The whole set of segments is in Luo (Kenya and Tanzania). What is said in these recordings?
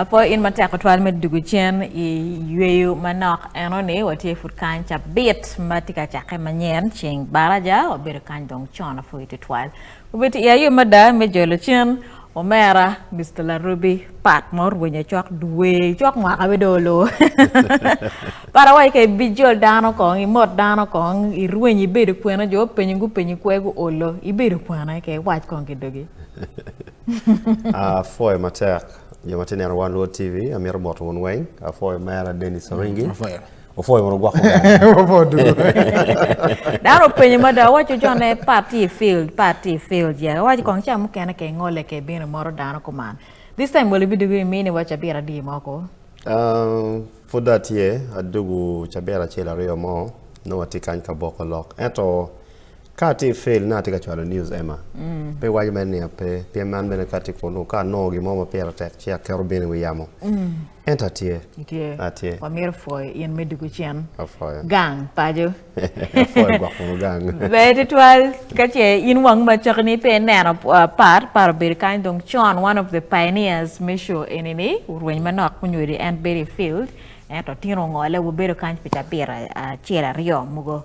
apo in matek otwal me dugu cen i yweyo manok eno ni watye pud kany cabit ma tye ka cakke manyen ceng baraja wabedo kany dong con apo i tutwal obedi i ayo mada me jolo cen omera Mr. Larubi pat ma orwenyo cok dwe cok mwaka bedo olo para wai ka ibijol dano kong imot dano kong irweny ibedo kwena jo penyo gupenyi kwego olo ibedo kwena ke wac kong ki dogi Afoyo ah, matek joma tineno wan Luo TV amiro boto wun weng afoyo ah, mera Dennis mm, Oringi ofoyo mondo gwako daro penyo ma da wacho jo ne party field party field ya wacho kong cha mukene ke ngole ke bino moro dano kuman this time will be doing mini wacho bira di moko um for that year adugu chabera chela riyo mo no watikany ka boko lok eto Ka ti fail na ti ka chwalo news Emma. Mm. Pe wajo men ni pe pe man bene ka ti kono ka no gi mo ma pera tek chia kero bene wi yamo. Mm. Enta tie. Tie. A tie. Wa mir foi yen me dugu chen. A foi. Gang pajo. A foi gwa kono gang. Be ti twal ka che in wang ma chok ni pe neno uh, par par bir kan dong chon one of the pioneers misho enini urwen manok kunyuri and berry field. Ento tino ngole wo bero kan pita bira uh, chera rio mugo.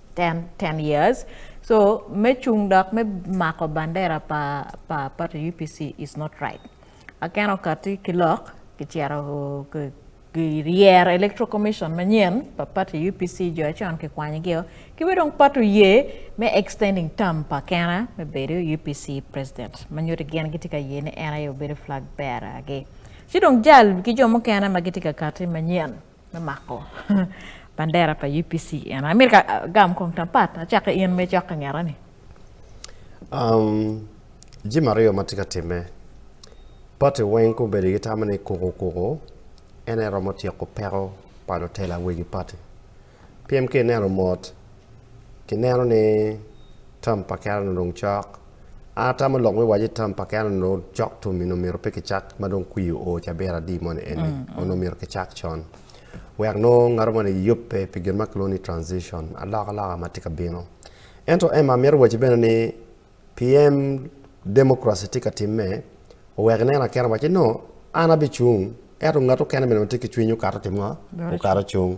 10, 10 years. So me chung dok me mako bandera pa pa pa UPC is not right. Akeno kati kilok kichero girier electoral commission manyen pa party UPC jo achon ki kwany gi ki we dong pato ye me extending term pa kena me bedo UPC president manyuto gen giti ka ye ni en ayo bedo flag bearer gi ci dong jal ki jo mukene ma giti ka kati manyen me mako bandera pa UPC en amir ka uh, gam kong tampat achaka in me chaka ngera ni um ji mario matika time pati weng ko bedi gi tamane koko koko en ero mo tieko pero pa do tela wegi pati PMK nero mot ki nero ni tam pa kera no dong chok ata ma lok me waje tam pa kena no jok to mino miro pe kicak ma dong kwi o cha bera di mon en mm, mm. ono miro kicak chon wek no ngaro mane yop pe pe gen makloni transition alaka alaka ma tika bino ento ema miro waje bene ni pm democracy tika timme wek ne na kena waje no ana bi chung eto ngato kena bene tika chwinyo kato timwa o kato chung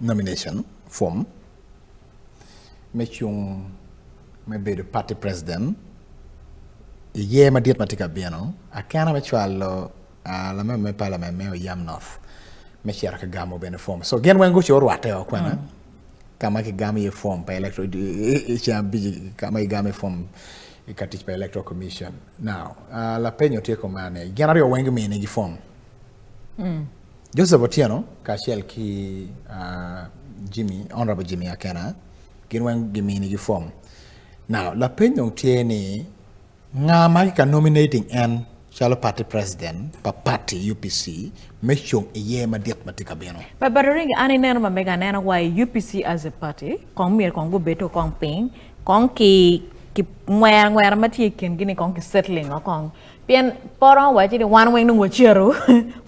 nomination form me cung me bedo party president i year madit ma tye ka bino akena me cwalo uh, lamema me parliament me oyam north me cito ka gamo bene form so gin weng guco orwatte o kwena mm. ka ma kigamo iye form pa electoral cam biji ka ma igamo form i ka tic pa electoral commission now uh, lapenyo tye kumane gin aryo weng gimine gi form mm. Joseph Otieno kaachiel ki uh, Jimmy, Honorable Jimmy Akena gin weng gi mini gi form. Now, lapeny dong tye ni ng'a ma kika nominating en calo party president pa party UPC me cung iye madit ma tye ka bino. Pa Badoringi an ineno ma mega aneno wa i UPC as a party kong myero kong gubedo kong piny kong ki ki ngwera ngwera ma tye i kingi ni kong ki settling o kong Pien poro waci ni wan weng nung wacero,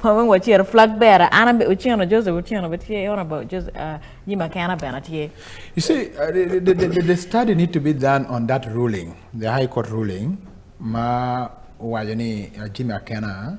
wan weng wacero flag bearer, an abe Otieno Joseph Otieno be tye, Honorable Joseph uh, Jim Akena bene tye. You see, uh, the, the, the, the study need to be done on that ruling, the High Court ruling, ma waco ni uh, Jim Akena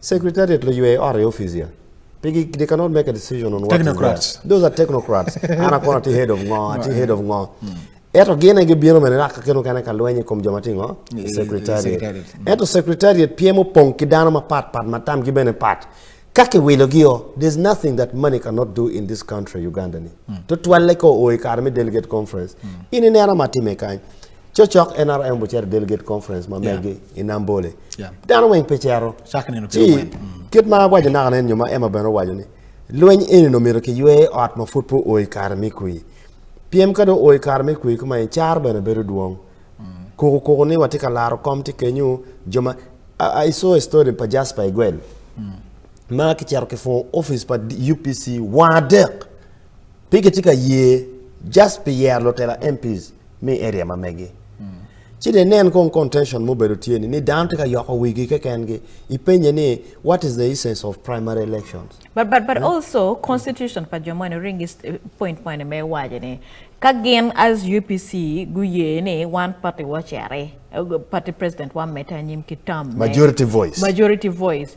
Secretariat la UA or office here. They, they cannot make a decision on what technocrats. Those are technocrats. Ana kona ti head of ngo, ti head of ngo. Hmm. Eto gene gi biro mene raka keno kane kalwenye kom joma tingo secretariat. Hmm. Eto secretariat piemo pong kidano ma pat pat matam gi bene pat. Kake wilo gio, there's nothing that money cannot do in this country Uganda ni. Hmm. To twale ko oi karmi delegate conference. Ini nera matime kany. Cocok NRM bucer delegate conference ma yeah. megi inambole. Yeah. Dano weng pecero. Chakne no piro weng. Mm. Kit ma wajo naka nen nyuma ema beno wajo ni. Lweny eni no miro ki ywe ot ma fut po oi kare mi kui. Piem kado oi kare mi kui kuma icar beno bedo duong. Mm. Kuku kuku ni watika laro kom ti kenyu joma. I, I saw a story pa Jasper Igwen. Mm. Ma ki cero ki fo office pa UPC wadek. Pi ki tye ka ye just pi yero lutela MPs mi area ma megi. Ci de nen kong contention mo bedo tye ni ni dano tye ka yoko wigi keken gi ipenye ni what is the essence of primary elections. But but but also constitution pa jo moni ring is eh, point moni me waje ni ka gin as UPC guye ni one party wachere eh, party president wa meta nyim ki tam. Majority voice. Majority voice.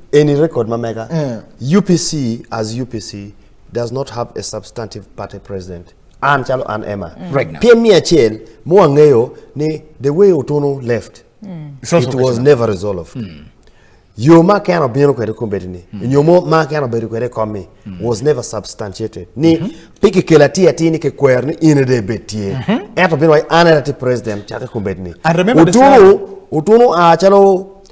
Any record mameka. Mm. UPC as UPC does not have a substantive party president. An chalo an Emma. Mm. Right now. PM mia chel mo angeyo ni the way Otono left. Mm. It was never resolved. Mm. yo ma keno bino kwede kombedi ni mm. yo mo ma keno bedo kwede komi mm. was never substantiated ni mm -hmm. piki kela ti ati ni ke kwer ni ine de betie mm -hmm. eto bino wai anera ti president chaka kombedi ni utunu utunu a chalo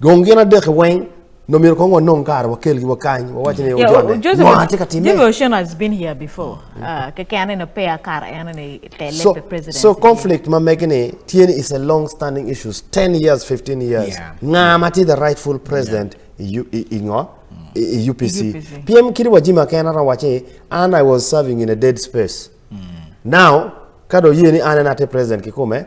Gong gin adek weng no mir ko ngon non kar wakel gi wakany wawach ne ojone Joseph no atika time Joseph Ocean has been here before mm. uh, ke kane no pay kar ene ne tele so, president so conflict ma megene tiene is a long standing issues 10 years 15 years yeah. nga mati the rightful president yeah. ingo mm. UPC. UPC PM kiri wajima kena ra wache and I was serving in a dead space mm. now kado yie ni ane nate president kikume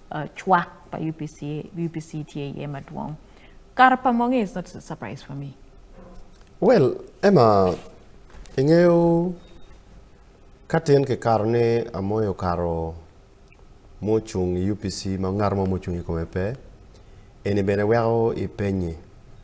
uh, chwak pa UPC, UPC tye iye madwong. Kara pa monge is not a surprise for me. Well, Emma, ing'eyo katin ki karo ni amoyo karo mucung i UPC ma ngat mo mucung i kome pe, eni bene weko ipenye.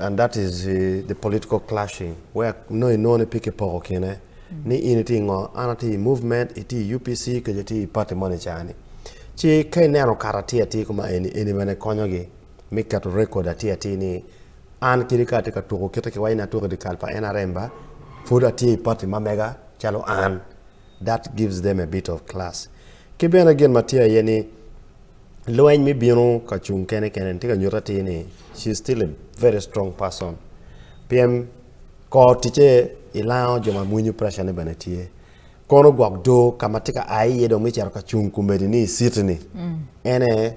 And that is uh, the political clashing where no no ne pike poko kine mm. ni in ti ngo ana ti movement iti UPC ke ti party money chani. Chi kai ne ro kara ti ati kuma eni eni mane konyo gi mi ka to record ati ati ni an kiri ka te ka tuko kete ke waina tuko di kalpa ena remba foda ti party mamega chalo an. That gives them a bit of class. Ki bene gin ma tye aye ni lweny mi bino ka cung kene kene tye ka nyuta ti ni she is still a very strong person. Pien kor tice ilango jo ma mwinyo pressure ne bene tye. Kono gwok do ka ma tye ka ai iye dong mi cito ka cung kumedi ni isitni. Mm. Ene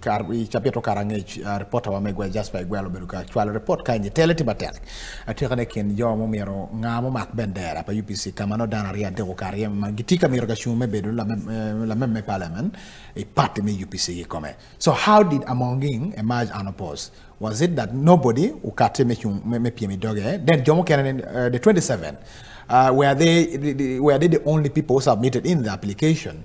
kar ichape to kar ang'ech uh, reporter wa megwa Jasper Igwelo bedo ka chwalo report ka nyi tele tiba tek atika ne kin jo mo miro ngamo mak bendera pa UPC kama no dana ria dego kar yem ma gitika miro ka shume bedo la la meme parliament e party me UPC gi kome so how did Amonging emerge unopposed was it that nobody ukate me chum me, me pie mi doge then jomo kenen uh, the 27 uh, were they were they the only people who submitted in the application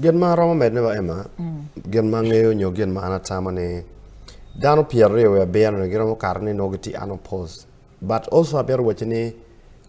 Gin ma romo medne ba Emma, mm. gin ma ng'eyo nyo gin ma an atamo ni dano pier aryo wa biyano ni giromo kare ni nogi ti ano pose. But also abiyar wache ni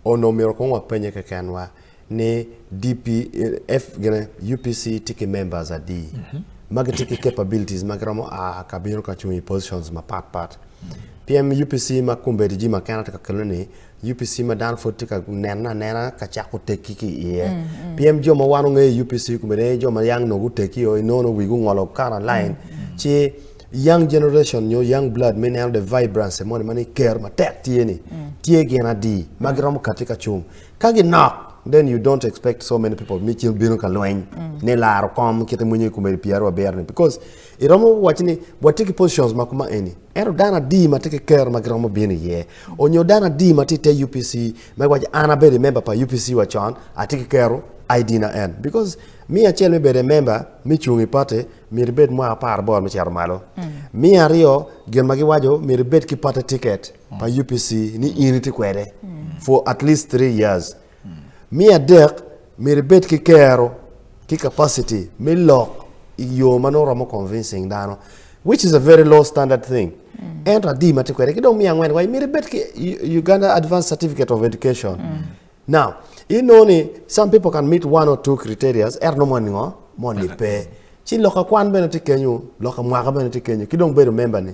ono miro kong wa penye ke ken wa ni DP, eh, F, gine, UPC tiki members a D. Mm -hmm. Magi tiki capabilities, magi romo a kabiro kachungi positions ma pat pat. Mm -hmm. PM UPC ma kumbedi ji ma kena teka keluni UPC ma dano pud tye ka nena anena ka cako tekki ki iye mm, mm. pien jo ma wan ongeyo UPC kumene jo ma yang nogu tekki yo inono wigu ngolo kara line mm, ci young generation nyo young blood me neno the vibrance mo mani ker matek tye ni tye gin adi ma giromo kati ka cung ka ginok then you don't expect so many people mi cil bino ka lweny ni laro kom kite mwenye kumeri piero aber ni because iromo wach ni wati ki positions ma kuma eni ero dano adi ma tye ki ker ma giromo bino iye onyo dano adi ma tye te upc ma wac an abedo i member pa upc wa con atye ki kero id na en because mi acel me bedo member mi cung i party miri bed mwa apar bor mi cero malo mm. mi aryo gin ma giwaco miri bed ki party ticket pa upc ni in iti kwede mm. for at least three years Me adek, myero ibed ki kero ki capacity me lok i yo ma nongo romo convincing dano which is a very low standard thing. Ento adi ma tye kwede ki dong me angwen wa myero ibed ki U- Uganda Advanced Certificate of Education. Now, you know ni some people can meet one or two criteria er no mon ngo mon ni pe. Ci loka kwan bene tye kenyo, loka mwaka bene tye kenyo, ki dong bedo member ni.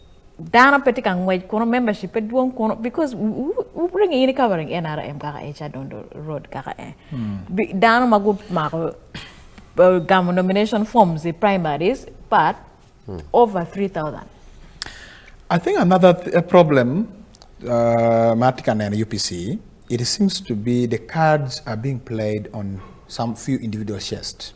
dano pe tye ka ngwec kuno membership pe dwong kuno because wuringo in covering NRM kaka e Chadondo road kaka e hmm. dano ma gumako uh, gamo nomination forms e primaries but hmm. over 3000 I think another th a problem uh, Martika and UPC it seems to be the cards are being played on some few individual chests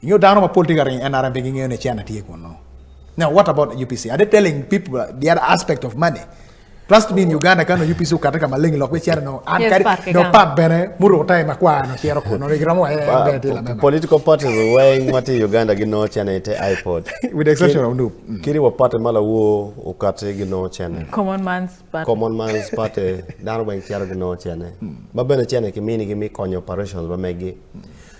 You know, down on my political ring, and I'm beginning to channel take one now. Now, what about UPC? Are they telling people the other aspect of money? Plus to me in Uganda kano UPC ukata kama lengi lokwe chera no an kari no pap bene muru utai makwa no chero kuno ni gramo eh, eh, eh political parties weng mati Uganda gi no chene ite iPod with the exception of Nup mm. kiri wapate mala wo ukate gi no chene common man's party common man's party dano weng chero gi no chene mm. ba bene chene kimini gi mi konyo operations ba megi mm.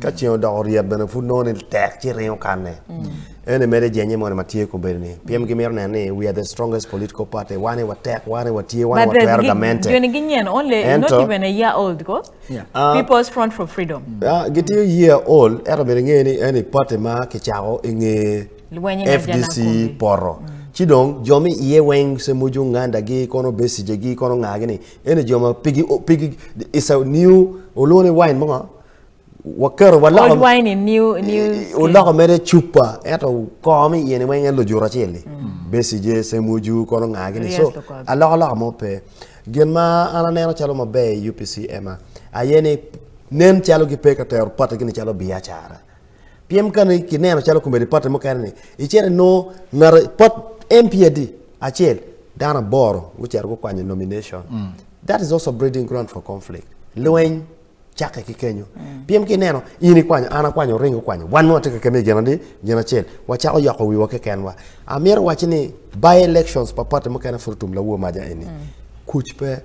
ka ceng odoko ryep bene pud nongo ni tek ci ringo kanne ene mere jenye mono matye kobedi ni piem gimito neno ni we are the strongest political party wane watek wane watye wane But the watwero gi- gamente joni gi nyen only not Ento- even a year old ko Yeah. people's front for freedom Ah, gitiyo year old ento bene ngeye ni ene party ma kicako inge Lwenye na fdc janakumbi. poro ci dong jo mi iye weng se muju ngandagi kono besijegi kono ngagi ni ene jo ma pigi pigi is a new olone wine mo waketo waloko wine in new new eh, uloko mere chupa eto kom yene weng en lujura chili mm. besi je semuju kono ngagi ni so aloko loko mo pe gen ma ana neno chalo ma be UPC ema ayene nen chalo gi peka ter pata gini chalo biachara piem kani ki neno chalo kumbe pata mo kani ichere no ngar pot MPD achiel dana boro wuchero ko kwanye nomination mm. that is also breeding ground for conflict lweny chake ki kenyo mm. piem ki neno in ikwanyo an akwanyo ringo kwanyo wan nwa tike kemi gena di gena chel wachako yoko wiwa ke kenwa amir wachi ni by elections papate mo kena furtum la wo maja eni mm. kuch pe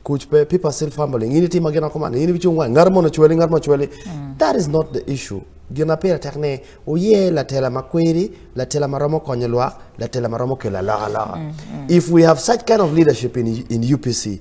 kuch pe people still fumbling ini tima gena komana ini bichu ngwa ngar mo na chweli ngar mo chweli mm. that is not the issue gina pera tek ne oye la tela makweri la tela maromo konyo lwa la tela maromo kela la la mm. mm. if we have such kind of leadership in in UPC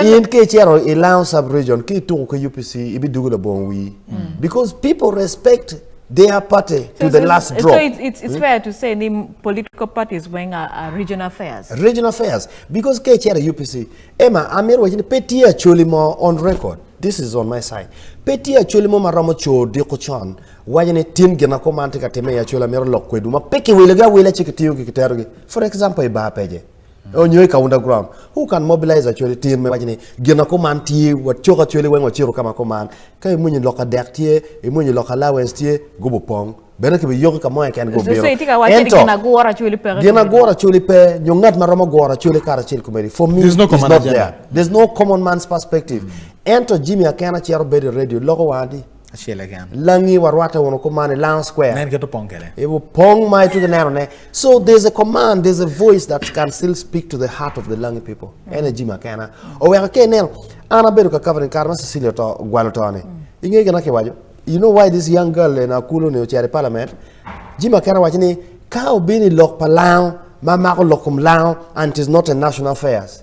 in ke chero i lounge sub region ki tuko ke upc ibi dugu la bon wi mm. because people respect their party so to the last drop. So it's, it's, it's hmm? fair to say the political parties when are, are regional affairs. Regional affairs. Because KCR UPC, Emma, I'm here watching Petit actually more on record. This is on my side. Petit actually more maramo cho di kuchan. Wajane tin gena ko mante ka teme ya chola mero lokwe duma. Peke wilega wile chikitiyo kikitarugi. For example, iba peje. onyoe ka underground who can mobilize achwele tin me wachni gina kuman tye wacok achwele weng waciro kama kuman ka imunyi lok adek tye imunyi lok allowance tye gubo pong bene kibi yoki ka moya ken gubiro ento gina gura achwele pe gina gura achwele pe nyo ngat ma romo gura achwele kara achil kumeri for me there's no common not there there's no common man's perspective ento Jimmy Akena chero bedo radio loko wadi achiel e gam langi warwate wono kumane lang square nen keto pong kede ibu pong ma itu neno ne so there's a command there's a voice that can still speak to the heart of the langi people mm. energy ma kana o weka ke neno ana bedo ka covering car ma Cecilia to gwalo to ne mm. inge gana ke wajo you know why this young girl in Akulo ne ochere parliament jima kana wacho ni ka obini lok pa lao ma mako lokum lao and it is not a national affairs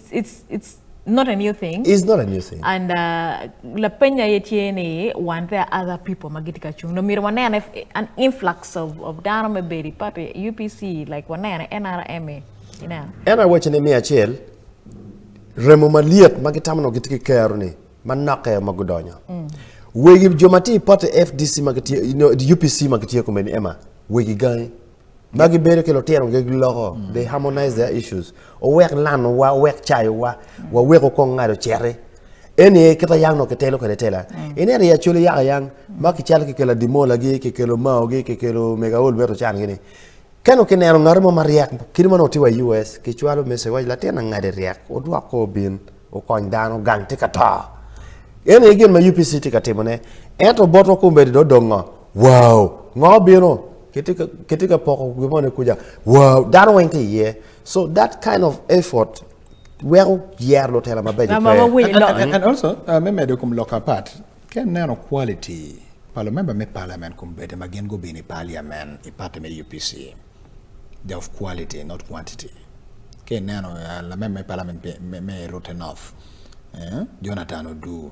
it's it's not a new thing it's not a new thing and uh, la penya yetie ni wan there are other people magiti ka chung no mira wanene an influx of of dano me beri party UPC like wanene NRM e, you know and I watch ni mi achiel remo maliet magitamno gitiki kero ni manake magudonyo mm. wegi jomati party FDC magiti you know, UPC magiti ko meni ema wegi gani ma gibedo ki lutino gi loko mm. they harmonize their issues owek lano wa owek chayo wa mm. wa weko kong ngado chere eni e kita yang no ke telo kene tela mm. ene ri achuli ya yang ma ki chal ki kela dimola gi ki kelo mao gi ki kelo mega ol beto chan gini kano ke nero ngaro ma mariak kiri mano tiwa US ki chwalo mese wa latin ngade riak odwa ko bin o kony dano gang te kata ene e gen ma UPC te katimo ne ento boto kumbe do dongo wow ng'o bino kitika kitika poko gimone kuja wow dano weng ti iye so that kind of effort weko yer lutela mabeco Ng'ama pe. wawinyo And, and, and, and also, uh, me medo kum loka part, ken neno quality palo member me parliament kum bete ma gin gubini parliament i party me UPC. They're of quality, not quantity. Ken neno uh, la member me parliament pe- me, me rote enough. Eh? Jonathan Odu,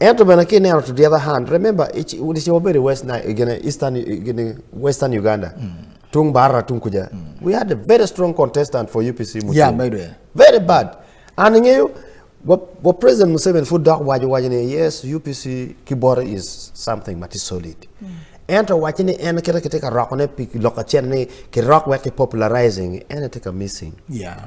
ento bene ka ineno to the other hand remember dice wabedo west gene eastern gene western uganda mm. tung barra tung kuja mm. we had a very strong contestant for upc Mutum. yeah by the way very bad and ngeyo wa president museveni fu dok wajo wajo ni yes upc kibore is something that is solid mm. ento wacho ni en kete kete ka rokone pi loko chen ni ki rok wek ki popularizing en e te ka missing yeah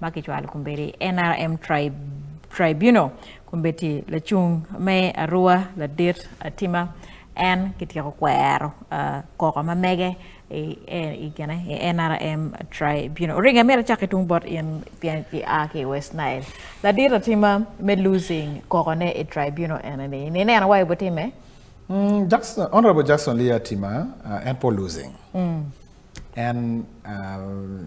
makichwalo kumberi NRM tribe, tribunal kumbeti lacung me arua ladit atima en kityeko kwero uh, koko ma mege i, i, gene, i NRM tribunal. Ringa mera chaki tung bot in pian ki a ki West Nile. La dira tima me losing koko ne i tribunal ene ni. Ni ne anawai bo time? Mm, Jackson, Honorable Jackson Lia Tima, uh, en po losing. Mm. En uh,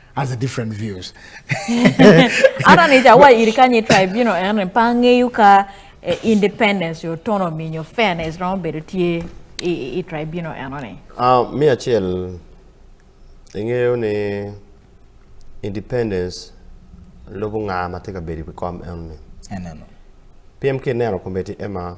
has a different views ara ni ja wa iri kanye tribe you know en pange yuka eh, independence your autonomy your fairness no bedo tie i, i tribe you know en ni ah uh, mi achiel ing'eyo ni independence lobo ng'a mateka bedi kom en ni eneno piem kineno kombeti ema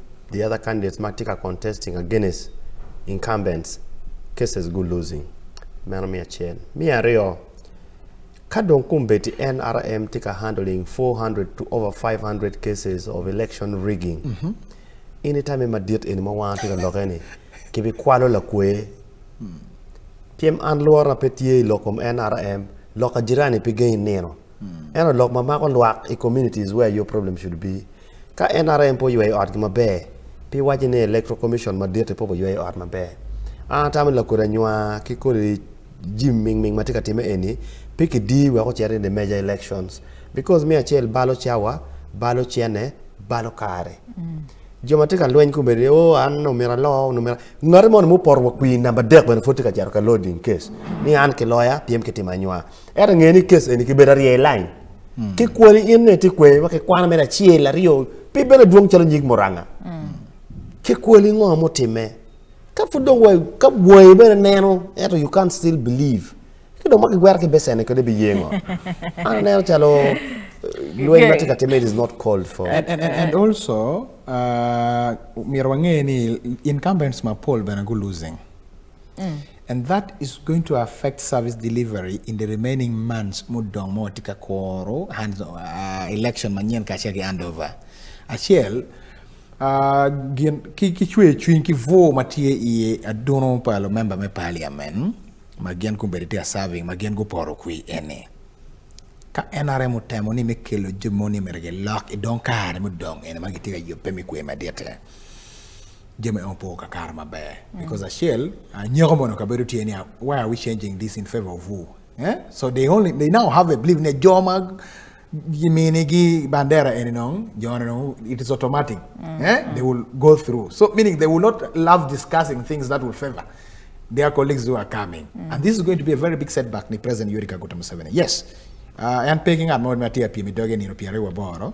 The other candidates might take a contesting against incumbents cases go losing. Mano mi achiel. Mi ariyo, ka dong kuom beti NRM tika handling 400 to over 500 cases of election rigging. Mm -hmm. Anytime ma diet en ma wan tika loke ni, kibi kwalo la kwe. Mm. Piem an luar na petie lokom NRM, loka jirani pe gain neno. Mm. Eno lok ma mako lwak i communities where your problem should be. Ka NRM po yweyo ot maber, pi waji ni Electoral Commission madit po po yweyo ot maber. An atamo lakodi anywa ki kodi jim ming ming matye ka time eni pi kidi wek ocito in the major elections because me acel balo cawa balo cene balo kare mm. jo matye ka lweny kome ni o oh, an nomira alo nomira ngati mono muporo wa kwin namba dek bene pud tye ka cito ka loading case ni an ki loya pyem ki timo anywa ento ngeni ni kes eni kibedo arye line mm. ki kwani in ne ti kwe wa ki kwana mera chiel aryo pi bene dwong chalo nyig muranga mm. ki kwani ngo mo time ka fu dong wa ka woi bene neno eto you can't still believe ki dong ma ki gwera ki besene kode bi yengo ana neno chalo eh, lweny ma ti ka time is not called for and, and, and, and also uh, miro wang'e ni incumbents ma poll bene go losing Mm. And that is going to affect service delivery in the remaining months mudong mo tika koro hands uh, election manyen ka cheki handover. Achiel uh, gin ki ki chwe chwin ki vo matie iye adono palo member me parliament ma gin kumbere tia serving ma gin go poro kwi ene. Ka NRM utemo ni mekelo jomoni merege lock idong kare mudong ene ma gitiga yope mikwe madete. jami opo kakar maber mm. because achiel uh, nyeko mondo kabedo tye niya why are we changing this in favor of who eh? so they only they now have a belief ni joma gimini gi bandera eni nong jone nong it is automatic mm. eh? they will go through so meaning they will not love discussing things that will favor their colleagues who are coming mm. and this is going to be a very big setback ni president yuri kaguta museveni yes uh, en peki ng'at moro matye apiem i doge nino pyero ariyo aboro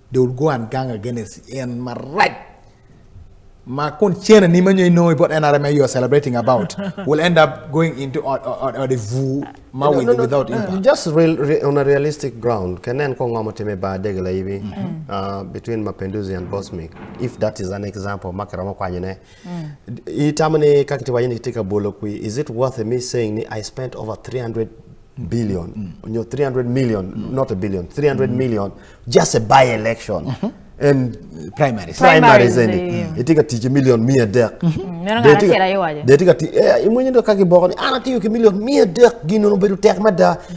they will go and gang against in Marat. Ma kun chena ni manyo know about NRMA you are celebrating about will end up going into or, or, or the vu ma no, with, no, no, without no, impact. Just real, re, on a realistic ground, kenen ko ngoma teme ba degla hivi mm -hmm. uh, between Mapenduzi and Bosmic. If that is an example, makarama kwa nyene. Mm. Itamani kakiti wajini kitika bolo kui, is it worth me saying ni I spent over 300 billion, mm. you know, 300 million, mm. not a billion, 300 mm. million, just a by election. Mm -hmm. en primaries primaries eni mm. itika tich million mia dek mm-hmm. mm, neno ngana tiela yewaje de tika ti eh, imwenye ndo kaki boko ni ana tiyo ki million mia dek gino no bedo tek mada mm.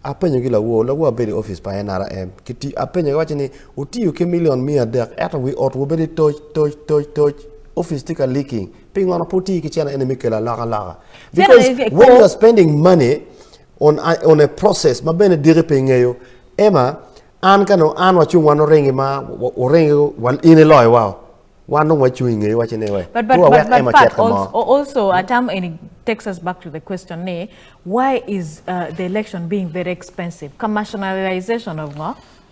apenyo gi lawuo lawuo abedi office pa NRM kiti apenyo gi wacho ni utiyo ki million mia dek eto wi ot wobedi toch toch toch toch office tika leaking Ping on a puti kichana ene mikela laga laga. Because when you are spending money on a, on a process mabene dire pengeyo ema an kano an wachung wano rengi ma orengi wan ine loy wao. Wan no wachung ingeyo wachine we. But but but, but, but also, also atam ene takes us back to the question ne, why is uh, the election being very expensive? Commercialization of uh,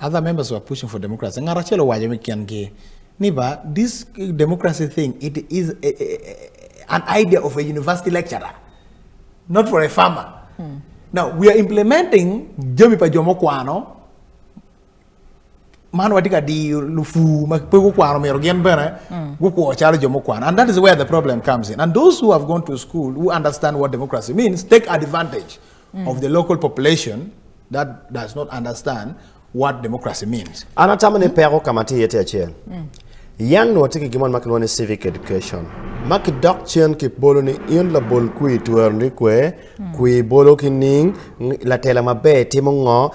Other members were pushing for democracy. Ng'at achiel owacho ni kian gi ni ba this democracy thing it is a, a, a, an idea of a university lecturer not for a farmer. Hmm. Now we are implementing jomi pa jomo kwano man watye ka diyo lufu ma pe gukwano myero gin bene mm. gukwo calo jo mukwano and that is where the problem comes in and those who have gone to school who understand what democracy means take advantage mm. of the local population that does not understand what democracy means. An atamo ni pego kama ti yete achiel. Mm. Yan no tiki gimon ma kilwone civic education. Ma kidok chien ki bolo ni in la bol kui tuwer ni kwe, mm. kui bolo ki ning, la tela mabe timo ngo,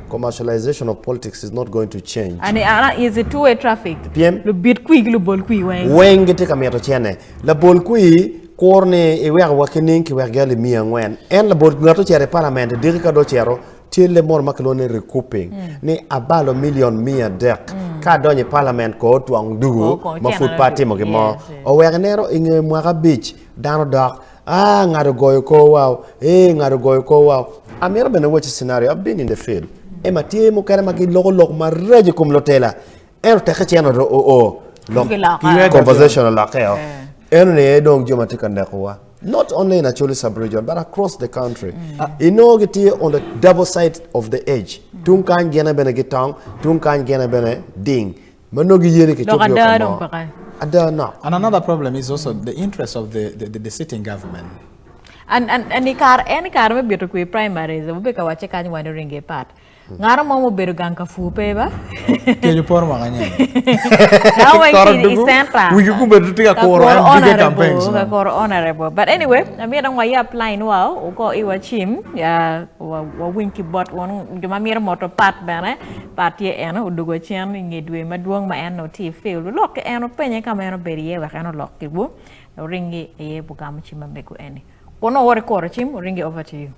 Commercialization of politics is not going to change. And uh, is a two-way traffic. PM. Lu bit kui lu bol kui weng. Weng gete kami ato chene. La bol kui kor ne iwek e wakening ki wek gali mia ngwen. En la bol ngato chere parlament diri ka do chero tye le mor ma kilone recouping mm. ni abalo million mia dek mm. ka donyo i parliament ko otwang dugu ma pud pa timo gimo owek nero inge mwaka bic dano dok Ah, ng'ato goyo kor wow. Eh, ng'ato goyo kor wow. Amira bende watch scenario. I've been in the field. Ema tie mo kare magi logo log maraje kum lotela. Ero teke cheno do o o. Log conversation a lake yo. Ero ne edong joma tika ndekuwa. Not only in Acholi sub-region, but across the country. Mm. Uh, you know, get here on the double side of the edge. Mm. Tung kan gena bene getong, tung kan gena bene ding. And another problem is also the interest of the, the, the sitting government. And, and, and ikar, en ikar me bieto kui primaries, ube ka wache kanyi wano ringe pat. Ngaro mo mobedo gang ka fupe ba. Kenyo por ma kanya. Now when kini isenta. Wiki kumbe tutika koro an bige campaigns. Ka koro honorable. But anyway, amira ngwa ya apply nwa, uko iwa chim, ya wa winki bot wano, jumamira moto pat bana. Pat tye en odugo cen i nge dwe madwong ma en otye i field. Olok ki en openye ka ma en obedo iye wek en olok ki wo. Oringi iye bugamo cim ma mego eni. Kun owori kuro cim, oringi over to you.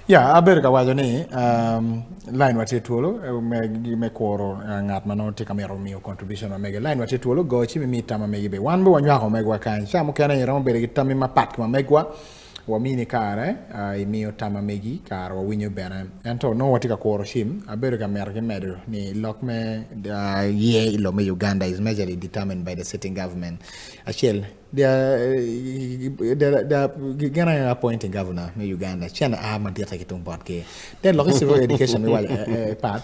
Ya, yeah, abedo ka waco ni um, line watye twolo eh, me, me kuro uh, eh, ngat ma nongo tye ka mito miyo contribution ma mege. Line watye twolo go ci mi mi tam ma mege be. Wan be wanywako megwa kany. Ca mukene iromo bedo ki tammi mapat ki ma megwa. Uh, wamini kare uh, imiyo tama megi kare wawinyo bene ento nongo watye ka kuro cim abedo ka mito ki medo ni lok me uh, ye i lo me uganda is majorly determined by the sitting government acel gin ayo appointing governor me uganda cen a madite ki tung bot ki den lok i civil education mi waco eh, eh, pat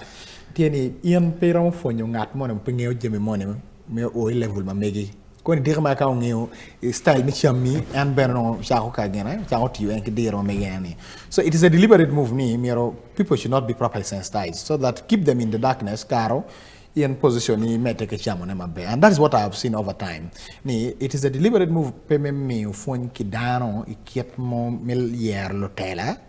tye ni in pe romo pwonyo ngat mo ni pe ngeyo jami mo ni me o i level ma megi koni diki ma ka ongeyo eh, style me cham ni en bene nongo cako kagene cako tiyo en ki diro me yen ni so it is a deliberate move ni miro people should not be properly sensitized so that keep them in the darkness karo in position ni me teke chamo ne maber and that is what i have seen over time ni it is a deliberate move pe me miyo fwony ki dano i kit mo me yer lutela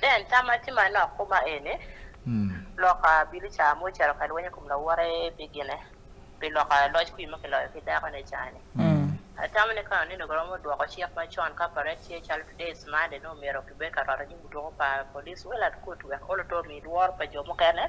Then tama tima no kuma ene. Hmm. Loka bili cha mo charo ka lwenye kumla wore bigine. Bi loka loj kui ma kilo ki dako ne chane. Hmm. Tama ne kana nino goromo dwoko chief ma chon ka pare chie chalo today is Monday no mero kibeka rara ni mutoko pa police wela kutu ya kolo to mi dwor pa jomo kene.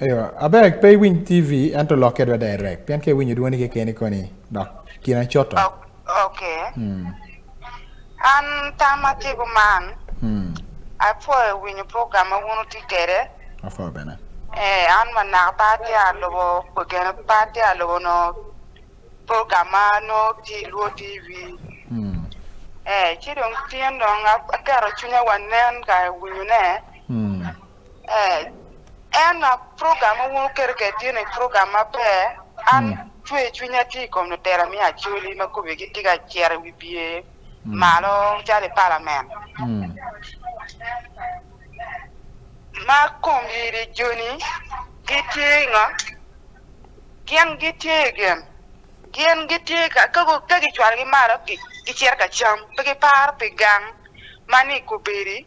Ayo, abek pe winy TV ento lok kedwa direct. Pian ke winy duwani ke keni koni. Dok, kina choto. Okay. Hmm. An tama tigo man. Hmm. Apo e winy program awuno ti kere. Apo bene. Eh, an manak pati alobo, kukene pati alobo no program ano ti luo TV. Hmm. Eh, chidong tiyan dong akero chunya wanen ka winy ne. Hmm. Eh, en a program wuon kerke tiene program maber an Mm. chwe chunya ti kom no tera mi achuli ma kubi gi tiga chier wi bie malo chale parliament Mm. ma kom yiri joni gitie nga gien gitie gen gien gitie ka ka go- ka gichwar gi malo gi gichier ka cham pe gipar pe gang mani kubiri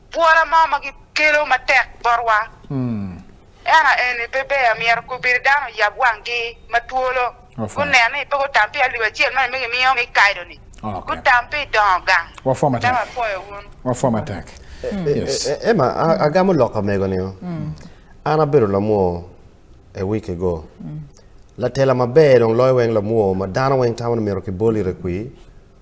Bwora mo ma gikelo matek botwa. Ena eni pe ber myero kubiri dano yab wanggi ma twolo. Ofa. Gunen ni pe gutam pi alip acel mani me gimiyo mi kaidoni. Ok. Gutam pi dongo gang. Wafwa matek. Dama pwoyo wun. Wafwa matek. Yes. E- e- Emma, a- agamo lok amego ni. An abedo lamwo a week ago. Latela maber dong loyo weng lamwo ma dano weng tamo ni mito kiboli rekwi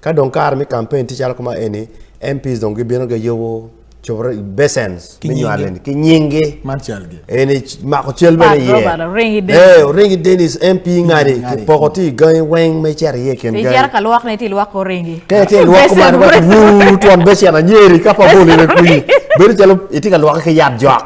Ka dong kare mi campaign ti chalo kuma eni, MPs dong gibino ga yobo chobro besens Ki mi nyinge. nywalen ki nyingi. Man cal gi. Eni ch- mako cal bene Pat ye. Robert, oringi Dennis. Eh, oringi Dennis MP ngadi ngadi. poko ti gangi weng me cer ye ken Ti gangi. jara ka lwak ne ti lwak oringi. Kaya ti lwak Besen, man wa besen. wuu tuan besen anyeri ka pa boli ne kuyi. Bedo chalo iti ka lwak ki yat jok.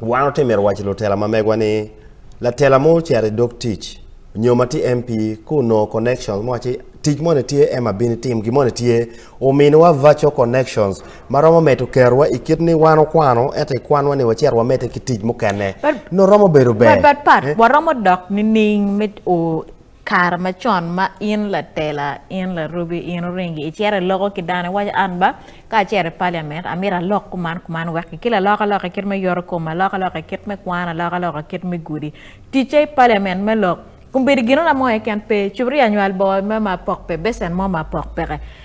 Wan otimo e wach lutela ma megwa ni latela mo chere dok tich nyo ma ti MP ku no connection mo achi tich mo ne tie ema bin tim gi mo ne tie omin wa virtual connections ma romo meto kerwa i kit ni wan okwano eto i kwan wani wacer wa mete ki tich mo kene no romo bedo ber but but part eh? wa romo dok ni ning mit o kare macon ma in latela in larubi in oringi icere loko ki dano iwaco an ba ka acere i parliament amito alok kuman kuman wek ki laloka loka kit me yoro kom aloka loka kit me kwan aloka loka kit me gudi ticce i parliament me lok kun bedo gino na mo keken pe cubri anywal bo me ma pok pe besen mo ma pok peke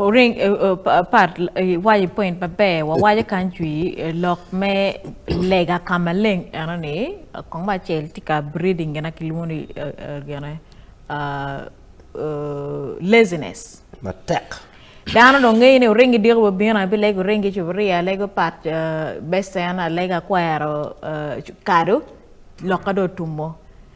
Oring eh, eh, part eh, waje point maber wawaje kan cwi lok me lega ka maleng eno ni kong ba cel tye ka breeding gena kilwongo ni gene laziness matek dano dong ngeyo ni oringi diko babino abi lego ringi cuburia alego pat besen alega kwero kado loka do tumo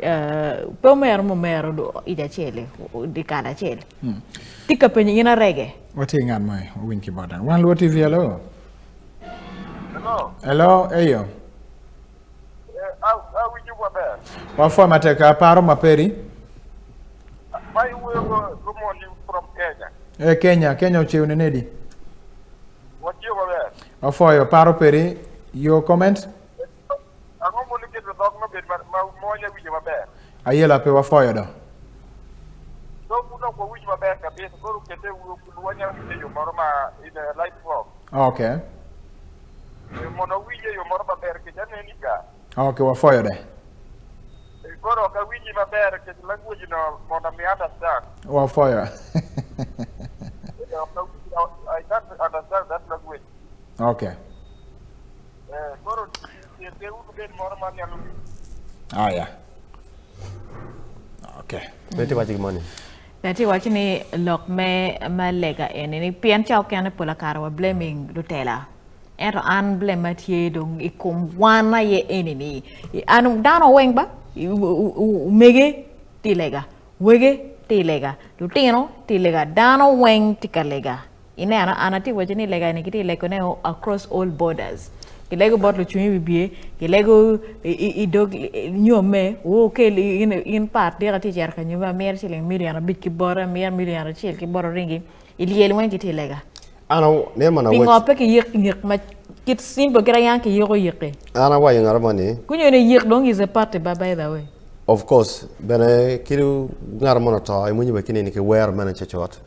Euh, peu mère mo mère do ida chele di kana chele hmm. tika pe ni na rege wati ngan mai win ki bodan wan lo tv hello hello hello eyo eh, au au wiju kwa ber wa fo mateka paro maperi mai wo ko mo ni from kenya e kenya kenya uchiu ne nedi wati kwa ber wa fo yo paro peri your comment Ang'o mondo iketo dhok mabed ma- ma- mawanya winjo maber? Ayela pe wafoyo do. Dhok uno kwa winj maber kabisa, koro kete wuo kudu wanya winjo e yo moro ma in a light form. Okay. Eh, Mondo winje e yo moro maber, kech aneni ka. Okay, wafoyo de. Eh, Koro ok awinji maber, kech language no mondo mi understand. Wafoyo. Eh, ok awinji- I can't understand that language. okay. Haya. Okay. Beti wachi gimoni. Nati wachi ni lok me malega eni ni pien cha okene pola karo wa blaming lutela. Ento an blame matye dong ikum wana ye eni ni. An dano weng ba umege tilega. Wege tilega. Lutino tilega. Dano weng tikalega. ine ana ana ti waje ni lega ni kiti lego ne across all borders ilego botlo chunyi bibie ilego idog nyome wo ke in in part dira ti jar kanyo ba mer chiling million a bit ki bora mer million a chil ki bora ringi iliel wen kiti lega ana ne mana wo pingo pe ki yek yek ma kit simbo kira yan ki yego yeke ana wa yengara mani kunyo ne yek dong is a part ba by the way of course bene kiru ngar mono to imunyi be kinini ki wer mene chechot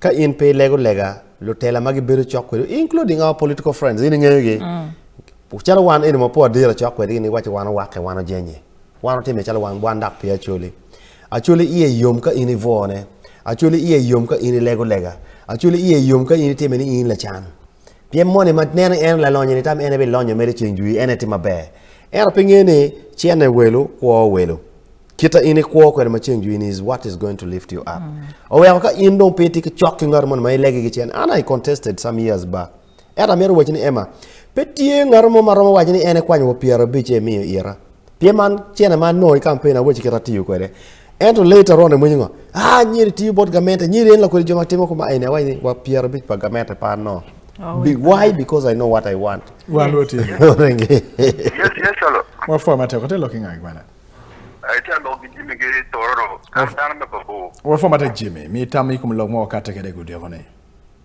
Ka in pe ilego lega lutela ma gibedo cok kwedi including our political friends in ing'eyogi mm. calo wan eni ma po adira cok kwedigi ni waci wan owake wan ojenye wan otime calo wan wan dak pi acoli acoli iye yom ka in ivone acoli iye yom ka in ilego lega acoli iye yom ka in itime ni in lacan pien moni ma neno en lalonyo ni tam en ebe lonyo mere ceng jwi en etimo maber ero pinge ni cene welo kwo welo kita in ikwo kwede ma ceng in is what is going to lift you up mm. oweko ka in dong pe ti ki cok ki ngat mono ma ilege ki cen an i contested some years back ento amito waci ni ema pe tye ngat mo ma romo waci ni en ekwanyo wa pyera abic e miyo ira pye man cene ma no i kampen awaci kita tiyo kwede ento later on emwinyo ngo ah nyiri tiyo bot gamente nyiri en lakwede jo ma timo kuma ene awaci ni wa pyera abic pa gamente pa no Oh, Be, why? Because I know what I want. Well, what is it? yes, yes, hello. What format? What are you looking at, I tell log Jimmy Gay Toro, I'm down the Babu. What for matter Jimmy? Me tell me come log more cat take a good day on it.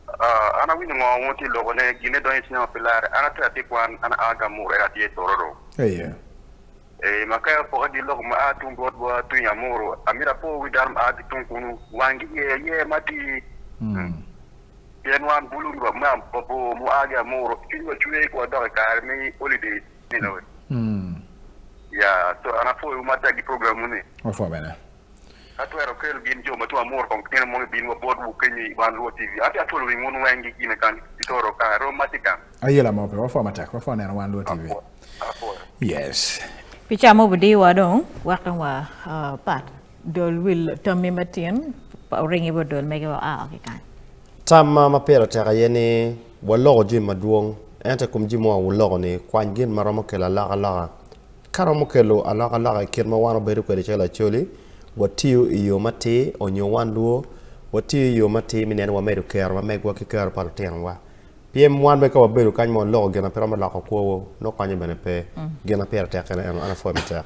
Uh, ana wini ngwa ngoti logo ne gine don isi na pilar ana tra ti kwan ana aga mure ati e tororo. Hey yeah. Eh makaya po adi logo ma atum bot bo atu ya muru amira po widarm adi tum kunu wangi ye ye mati. Hmm. Yen wan bulu ma bo mu aga muru kinwa chue kwa dog karmi holiday You know it. Mm. Yeah, so an afuoyo ma tagi programu ni. Wafuoyo bene. Atwero kel gin jo matwa mor kong kene mo bin wa bod bu kenyi ban ruo TV. Ati atwero wi ngun wengi gine kan itoro ka ro matika. Ayela mo pe wafuoyo matek wafuoyo neno wan ruo TV. Afuoyo. Yes. Picha mo budi wa dong wak dong wa uh, pat. Dol wil tamme matin oringi wa dol mege wa aa ki kany. Tam ma ma pira tek aye ni waloko jami madwong ente kum jami wa wuloko ni kwany gin ma romo kelo alaka loka ka romo kelo alaka loka i kit ma wan obedo kwede calo acoli watiyo i yo matir onyo wan luo watiyo i yo matir mi nen wamedo kero ma megwa ki kero pa lutinowa pien wan be ka wabedo kany ma waloko gin ma pe romo loko kwowo nokwanyo bene pe gin ma pira tek kene eno an apwoyo matek.